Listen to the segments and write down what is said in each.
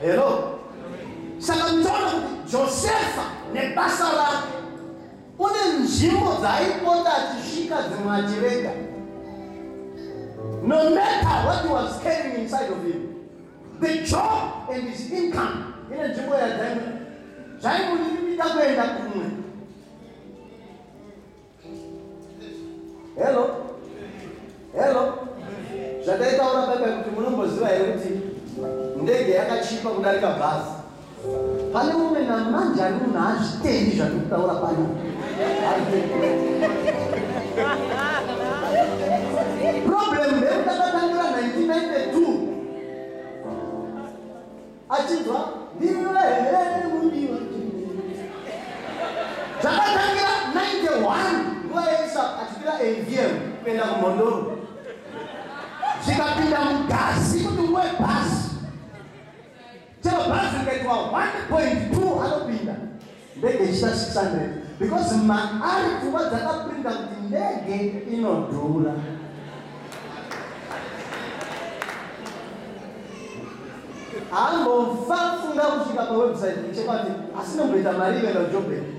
Hello. Saka mtaona kuti Josefa nebasa rake kune nzvimbo dzaaipota achisvika dzimwe achirega. No matter what he was carrying inside of him, the job and his income ine nzvimbo yadzaimwe zvaimuita kuenda kumwe hello hello zvataitaura baibai kuti munomboziva here kuti ndege yakachipa kudarika bhazi pane mumwe namanje ani munhu haazvitendi zvandiri kutaura pano problem ndeyekutakatangira 1992 achibva ndiwe here mudiwa zvakatangira 91 nguva yeisa achipira avm kuenda kumhondoro zvikapinda mugasi kuti uwe bhasi chero bhasi rikaitwa 1.2 anopinda ndege ichita 600 because maari pfungwa dzakaprinda kuti ndege inodhura ambofa funga kusvika pawebsite ichekati asi nomboita mari ive nojobheki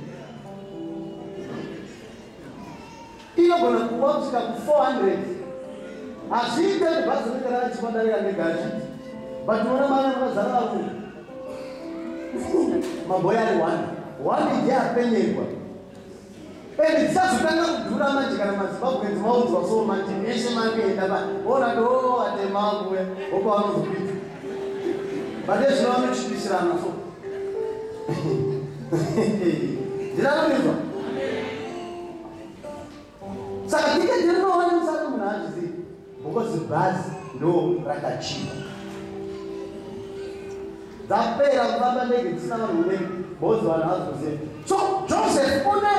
Inogona kuva kusvika ku 400. Hazviite kuti bhazi rinenge rakachipa darika ndega hazviti. But unoona mari vakazara varume. Maboya ari one. One ndiye apenyerwa. And tisazotanga kudhura manje kana mazimbabwenzi maudzwa so manje meshe makuenda pa ona do oh, atemakuwe opa vanozopita. But ezvino vanochipisirana so. Ndirakuizwa. saka tiketi rinoona musati munhu azvizivi because bhazi ndo rakachiva dzapera kufamba ndege dzisina vanhu unenge bozi vanhu vazoziva so joseph une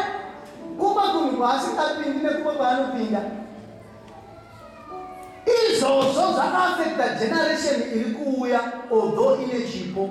kumba kunhu kwaasingapindi nekumba kwaanopinda izvozvo zvakaafekta generation iri kuuya although ine chipo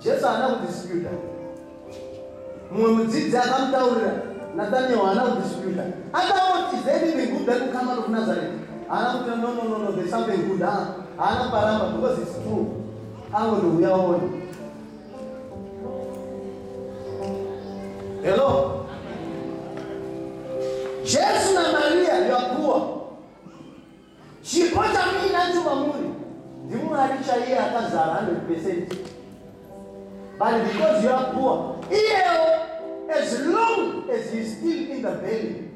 Jesu haana kudisputa. Mumwe mudzidzi akamutaurira Nathaniel haana kudisputa. Akangoti is there anything good that will come out of Nazareth? Haana kuti no no no no there's something good. Ha? Haana kuparamba because it's true. Angondouya waone. Hello. Jesu na Maria you are poor. Chipo chamuinacho mamuri ndiMwari chaiye akazara 100%. But because you are poor, iyewo as long as he is still in the belly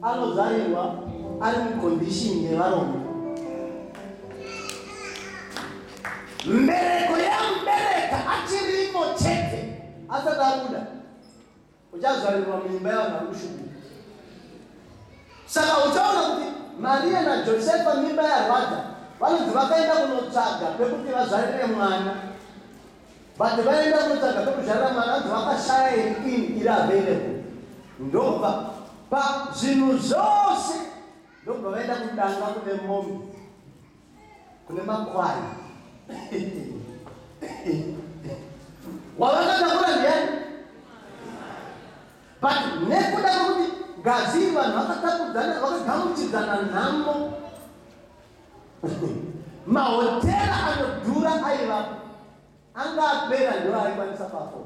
anozarirwa ari mucondition yevarombe. Mbereko yamubereka achirimo chete asati abuda. uchazvarirwa muimba yavanhu vari kushukuka saka uchaona kuti mariya najosefa mimba yarwadza vanonzi vakaenda kunotsvaga pekuti vazvarire mwana but vaenda kunotsvaga pekuzvarira mwana anzi vakashaya iri in iri available ndobva pazvinhu zvose ndobva vaenda kudanga kune mombe kune makwai wavakatakura ndiani but nekuda kwekuti ngazi vanhu vakatakudzana vakagamuchidzana nhamo mahotera anodhura aivapo anga apera ndiwo aikwanisa pafo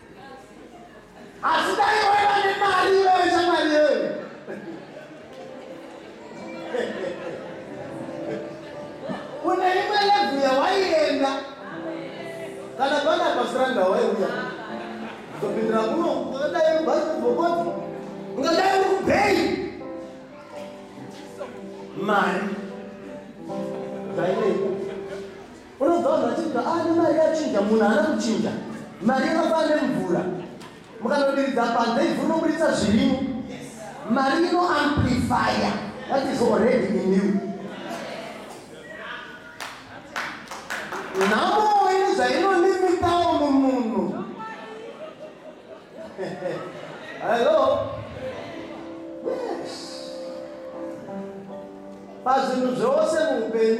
asi dai waiva nemari iwewe shamwari yewe une imwe lebvu yawaienda kana pana pasiranda waiuya zopindira kuno ungadai ubasi kubvokoti ungadai uri kubhei mari Unobva vanhu vachinzwa ah, ane mari yachinja, munhu haana kuchinja. Mari yakafanana nemvura, mukanodiridza panze ivhu rinoburitsa zvirimo. Mari ino amplifier that is already in you. Nhamo ine zvainonimitawo mumunhu. Hello? Yes. Pazvinhu zvose muupenyu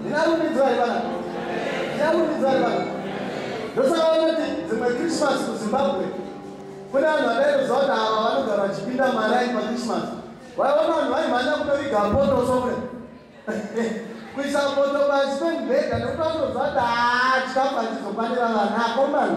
ndinarumbidzwa here vana ndinarumbidzwa here vana ndosaka vanoti dzimwe christmas kuzimbabwe kune vanhu vakaeroziva kuti ava vanogara vachipinda marai pachristmas vaiona vanhu vaimhanya kunoviga poto somwe kuisa poto pasi pemubhedha nekuti vanoziva kuti haa chikafu hachizofanira vana akomana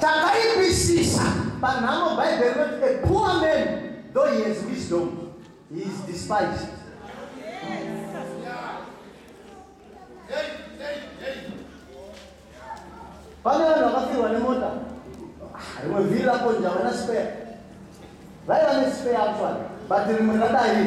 Takaipisisa panhamo Bhaibheri rinoti a poor man though he has wisdom he is despised. Pane vanhu vakafirwa nemota ah, rimwe vhiri rakonja vana spare vaiva nespare actually but rimwe radai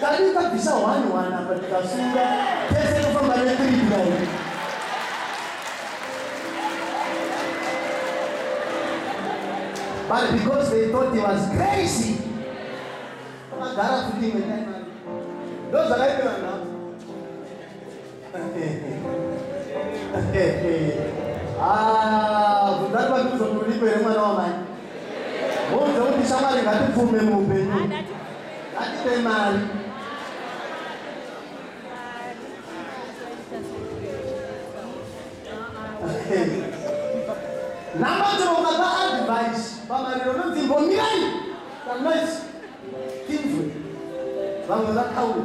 Kana ndikabvisa one one apa ndikasunga tese tofamba ne three kudai. But because they thought he was crazy. Vakagara futi imwe time. Ndozvakaita vanhu. Ah, vudhari vatiuzo kulipo here mwana wamai muuze kuti shamwari ngatipfume muupenyu ngatipe mari namatiro ukapa advice pamariro nonzi mbomirai kanoisi tinzwe vamwe vakaura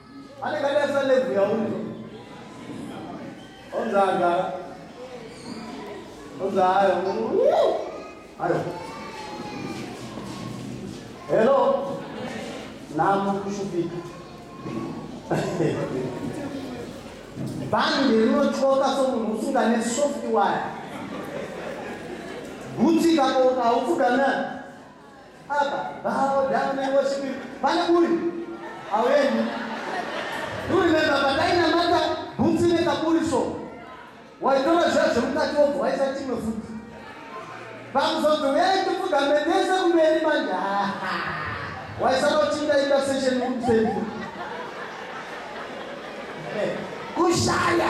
anenge adarisa levu yaunzi onzi agara onzi ayo ayo hello namo kushupika bhandi rinotyoka somunhu usunga nesoft wire gutsika kona haupfugamea Abba, bow down and worship him. Vana kuri? Aweni. Do you remember patainamata bhutsi nekaburi so? Waitora zviya zvemukati wobva waisa chimwe futi. Pakuzonzi uyai tipfugame tese kumberi manje. Waisanotinda ita session kumseni. Kushaya.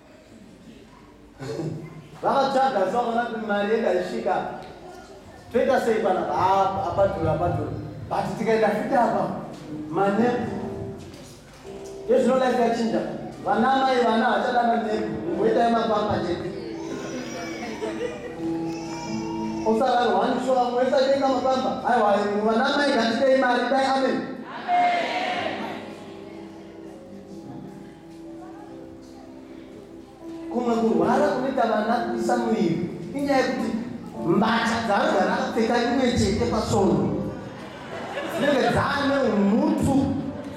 vakatsvaga so vakaona kuti mari yedu haisvika toita sei pana apadhura apadhura but tikaenda futi apa manepu ezvino life yachinja vana mai vana havachada manepu ngoita yemapamba chete osararo hani so vamwe vese aitenga mapamba aiwa vana mai ngatidei mari dai amen kumwe kurwara kunoita vana kuisa muviri inyaya yekuti mbatya dzaanogara akapfeka imwe chete pasono dzinenge dzaane umutu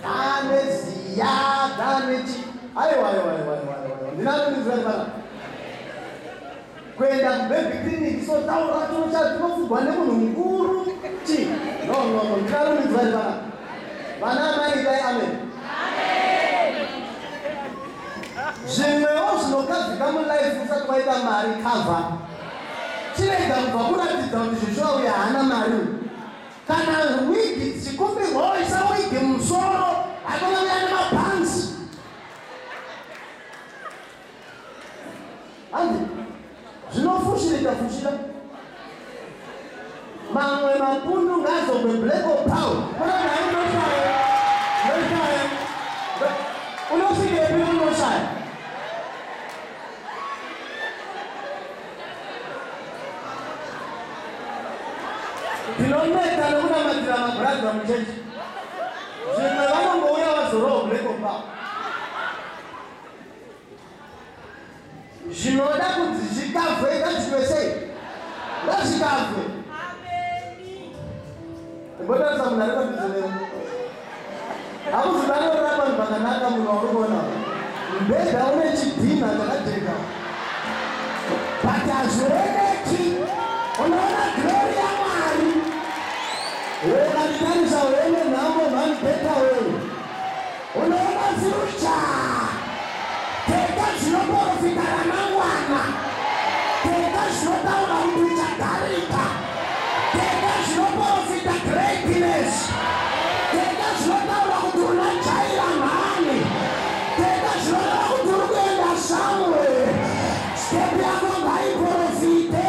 dzaane ziya dzaane chi aiwa aiwa aiwa aiwa aiwa ndinanoizira ndibana kuenda kubaby clinic so tauro racho chatinofunwa nemunhu mukuru chi no no no ndinarumidzwa ri vana vana amai dai amen zvimwewo zvinogadzika mulife usati waita mari cover chirega kubva kuratidza kuti zvishuwa uya haana mari uyu kana wigi dzichikumbirwawo isa wigi musoro hakuna uya nemabhanzi Handi, zvinofushirika fushira. Mamwe mapundu ngazogwe black or pound. Kuna nhayi unoshaya. Unoshaya. Unosvika epi unoshaya. Ndinoneta nekunamatira mabhuradha muchechi. Zvimwe vanongouya vazorowa black or pound. zvinoda kuti zvikavwe ngazvitwe sei ngazvikavwe imbotarisa munhu ari padhuze neu hakuzivanorora vanhu vakanaka munhu wauri kuona mbedha une chidhinha chakajeka but hazvirekeki unoona glori yamwari ukatitarisa wene nhamo mhani beta weu Unoona dziri itsva, tenda dzinoporofita ramangwana, tenda zvinotaura kuti uchagarika, tenda zvinoporofita greatness, tenda zvinotaura kuti una jaira mhani, tenda zvinoreva kuti uri kuenda somewhere. Step yako ngaiporofite.